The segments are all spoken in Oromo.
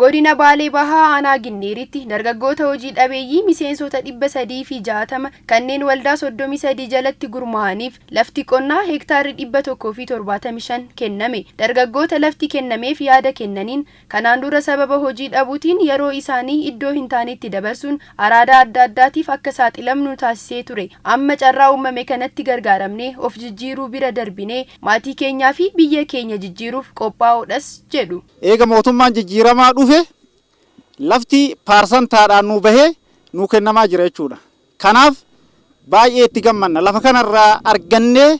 Godina Baalee Bahaa Aanaa Ginniiritti dargaggoota hojii dhabeeyyii miseensota 360 kanneen waldaa 33 jalatti gurmaa'aniif lafti qonnaa hektaarri 175 kenname. Dargaggoota lafti kennameef yaada kennaniin, kanaan dura sababa hojii dhabuutiin yeroo isaanii iddoo hin taanetti dabarsuun araadaa adda addaatiif akka saaxilamnu nu taasisee ture. Amma carraa uummame kanatti gargaaramnee of jijjiiruu bira darbinee maatii keenyaa fi biyya keenya jijjiiruuf qophaa'oodhas jedhu. Eega mootummaan jijjiiramaa dhufe lafti paarsantaadhaan nuu bahee nuu kennamaa jira jechuudha. Kanaaf baay'ee itti gammanna. Lafa kana irraa argannee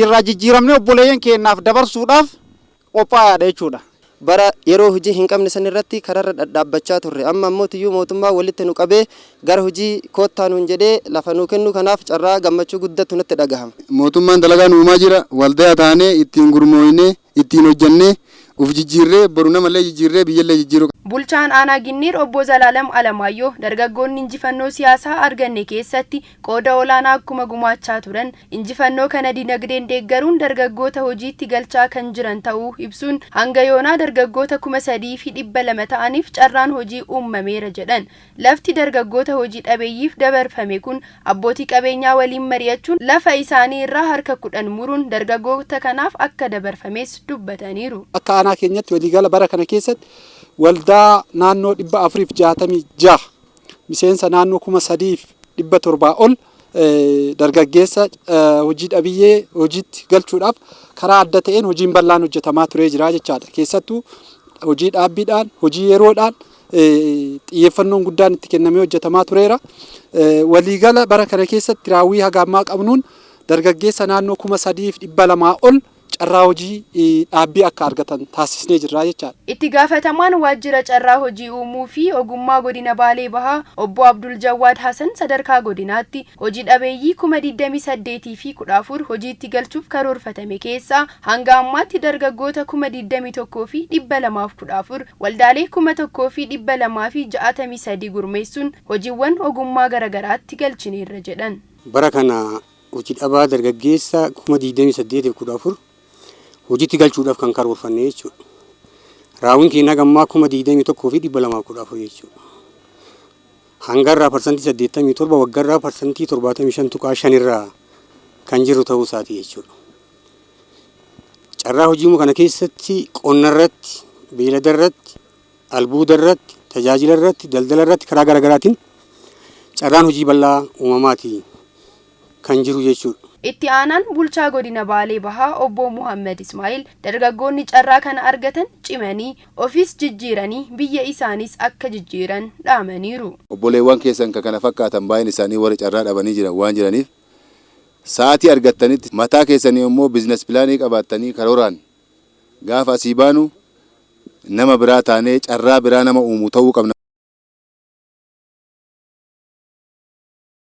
irraa jijjiiramnee obboleeyyan keenyaaf dabarsuudhaaf qophaayaadha jechuudha. Bara yeroo hojii hin qabne san irratti kararra dhadhaabbachaa turre. Amma ammoo tuyyuu mootummaan walitti nu qabee gara hojii koottaa nuun jedhee lafa nuu kennuu kanaaf carraa gammachuu guddatu natti dhagahama. Mootummaan dalagaa nu uumaa jira. Waldaya taanee ittiin gurmooynee Ittiin hojjannee uf jijjiirree boru namallee jijjiirree biyyallee jijjiiruu qabna. Bulchaan Aanaa Ginniir Obbo Zalaalam Alamaayyoo dargaggoonni injifannoo siyaasaa arganne keessatti qooda olaanaa akkuma gumaachaa turan, injifannoo kana dinagdeen deeggaruun dargaggoota hojiitti galchaa kan jiran ta'uu ibsuun, hanga yoonaa dargaggoota kuma 3 fi 200 ta'aniif carraan hojii uummameera jedhan. Lafti dargaggoota hojii dhabeeyyiif dabarfame kun abbootii qabeenyaa waliin mari'achuun lafa isaanii irraa harka 10 muruun dargaggoota kanaaf akka dabarfames dubbataniiru. Akka aanaa keenyatti waliigala bara kana keessatti waldaa naannoo 466 miseensa naannoo 3700 ol dargaggeessa hojii dhabiyyee hojiitti galchuudhaaf karaa adda ta'een hojiin bal'aan hojjetamaa turee jira jechaadha. Keessattuu hojii dhaabbiidhaan, hojii yeroodhaan xiyyeeffannoon guddaan itti kennamee hojjetamaa tureera. Waliigala bara kana keessatti raawwii haga ammaa qabnuun dargaggeessa naannoo kuma sadiif dhibba lamaa ol carraa hojii dhaabbii akka argatan taasisnee jirra jechaadha. Itti gaafatamaan waajjira carraa hojii uumuu fi ogummaa godina Baalee Bahaa obbo Abdul Jawwaad Hasan sadarkaa godinaatti hoji dhabeeyyii kuma 28 fi 14 hojiitti galchuuf karoorfatame keessaa hanga ammaatti dargaggoota kuma 21 fi 214 waldaalee kuma 1 fi 263 gurmeessuun hojiwwan ogummaa garagaraatti galchineerra jedhan. Bara kana Hojii dhabaa dargaggeessa 28,014 hojiitti galchuudhaaf kan karoorfanne jechuudha. Raawwiin keenya haga ammaa 21,214 jechuudha. Hangarraa parsantii 87 waggarraa parsantii 75.5 irraa kan jirru ta'uu isaati jechuudha. Carraa hojii kana keessatti qonna irratti beeylada irratti Albuuda irratti, tajaajila irratti, daldala irratti karaa gara garaatiin carraan hojii bal'aa uumamaati kan jiru jechuudha. Itti aanaan bulchaa godina Baalee Bahaa obbo Muhammad Ismaa'il dargaggoonni carraa kana argatan cimanii ofiis jijjiiranii biyya isaaniis akka jijjiiran dhaamaniiru. Obboleewwan keessan kan kana fakkaatan baay'een isaanii warri carraa dhabanii jiran waan jiraniif sa'aatii argattanitti mataa keessaniin immoo business plan qabaattanii karooraan Gaafa asii baanu nama biraa taanee carraa biraa nama uumu ta'uu qabna.